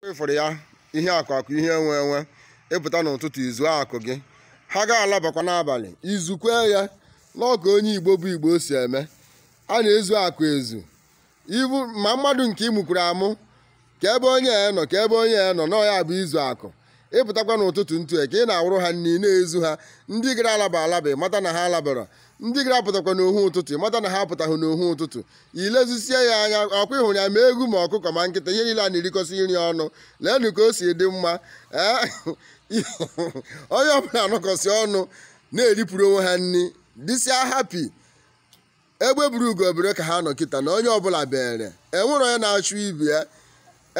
ị fụrụ ya ihe akụ akụ ihe enwe enwe ị pụta n'ụtụtụ izu akụ gị ha ga-alabakwa n'abalị izukwe ya na ọ ka onye igbo bụ igbo si eme a na-ezu akụ ezu ibu ma mmadụ nke ị mụkwuru amụ kee ebe onye a nọ kee ebe onye a nọ na ọ ya bụ izu akụ ị pụtakwa n'ụtụtụ ntụ ka ị na-awụrụ ha nri na-ezu ha ndị gara alaba alaba mata na ha alabara ndị gara apụtakwa n'uhu ụtụtụ ị mata na ha apụtaghị n'uhu ụtụtụ i lezisie ya anya ọkwa ị hụrụ ya ma ewu ma ọkụkọ ma nkịta ihe niile a na-erikọsị nri ọnụ leenụ ka o si dị mma ee onye ọbụla anọkọsị ọnụ na-eripụrụ onwe ha nri dịsịa happy egbe bere ugo ebere ka ha nọ kịta na onye ọbụla bere enwere onye na-achụ ibe ya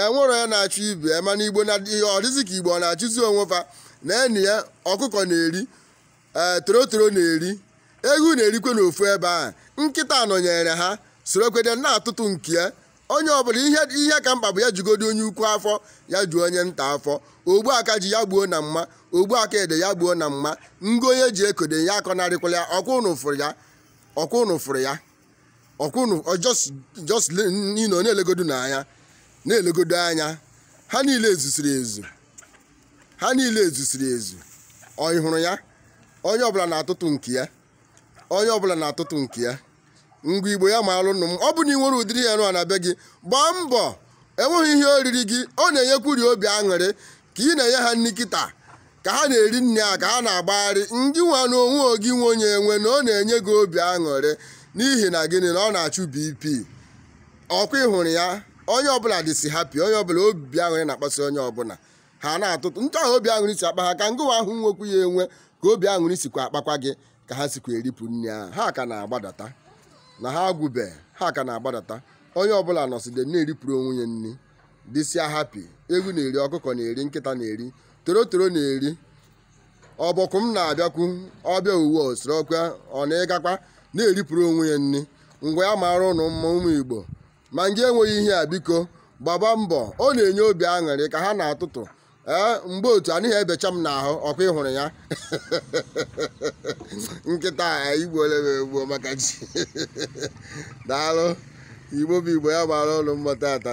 enwere onye na-achụ ibe ya mana igbo na ọ dịzị ka igbo ọ na-achụzi onwe fa na enyi ya ọkụkọ na-eri ee torotoro na-eri ewu na-erikwe n'ofu ebe ahụ nkịta nọnyere ha sorokwede na-atụtụ nke ya onye ọbụla ihe ihe ka mkpa bụ ya jugodu onye ukwu afọ ya juo onye nta afọ ogbu aka ji ya gbuo na mma ogbu aka ede ya gbuo na mma ngo onye ji akọ ede ya akọnarịkwala ya ọkwa ụnụ fụrụ ya ọkwa ụnụ fụrụ ya ọkwa ụnụ ọ just just le- you know, na-elegodu n'anya na-elegodu anya ha niile ezusiri ezu ha niile ezusiri ezu ọ ị hụrụ ya onye ọbụla na-atụtụ nke ya onye ọbụla na-atụtụ nke ya ngwa igbo ya maalụ nụ mma ọ bụ na ị nwere ụdịrị ihe nụ a na be gị gbaa mbọ enweghị ihe o riri gị ọ na-enyekwuri obi aṅụrị ka ị na-enye ha nri kịta ka ha na-eri nri a ka ha na-agbagharị ngị nwa na onwe gị nwe ya enwe na ọ na-enye gị obi aṅụrị n'ihi na gịnị na ọ na-achụ bp ọkwa ị hụrụ ya onye ọbụla dịsi happy onye ọbụla obi aṅụrị na-akpasị onye ọbụla ha na-atụtụ nke ha obi aṅụrị si akpa ha ka ngịwa ahụ nwekwu ya enwe ka obi aṅụrị sikwa akpakwa gị ka ha sikwa eripụ nri ahụ ha ka na-agbadata na ha agwụbe ha ka na-agbadata onye ọbụla nọside na-eripụrụ onwe ya nri dịsịa happy ewu na-eri ọkụkọ na-eri nkịta na-eri torotoro na-eri ọbọgwụma na-abịakwu ọ bịa o wee sorokwa ọ na-ịgakwa na-eripụrụ onwe ya nri ngwa ya mara ụnụ mma ụmụ igbo ma ngị enweghị ihe a biko gbaba mbọ ọ na-enye obi aṅụrị ka ha na-atụtụ ee mgbe otu anaghị ebecha m n'ahụ ọkwa ị hụrụ ya nkịta a i gbuole m egbuo maka chi daalụ igbo bụ igbo ya mara ụnụ mma taata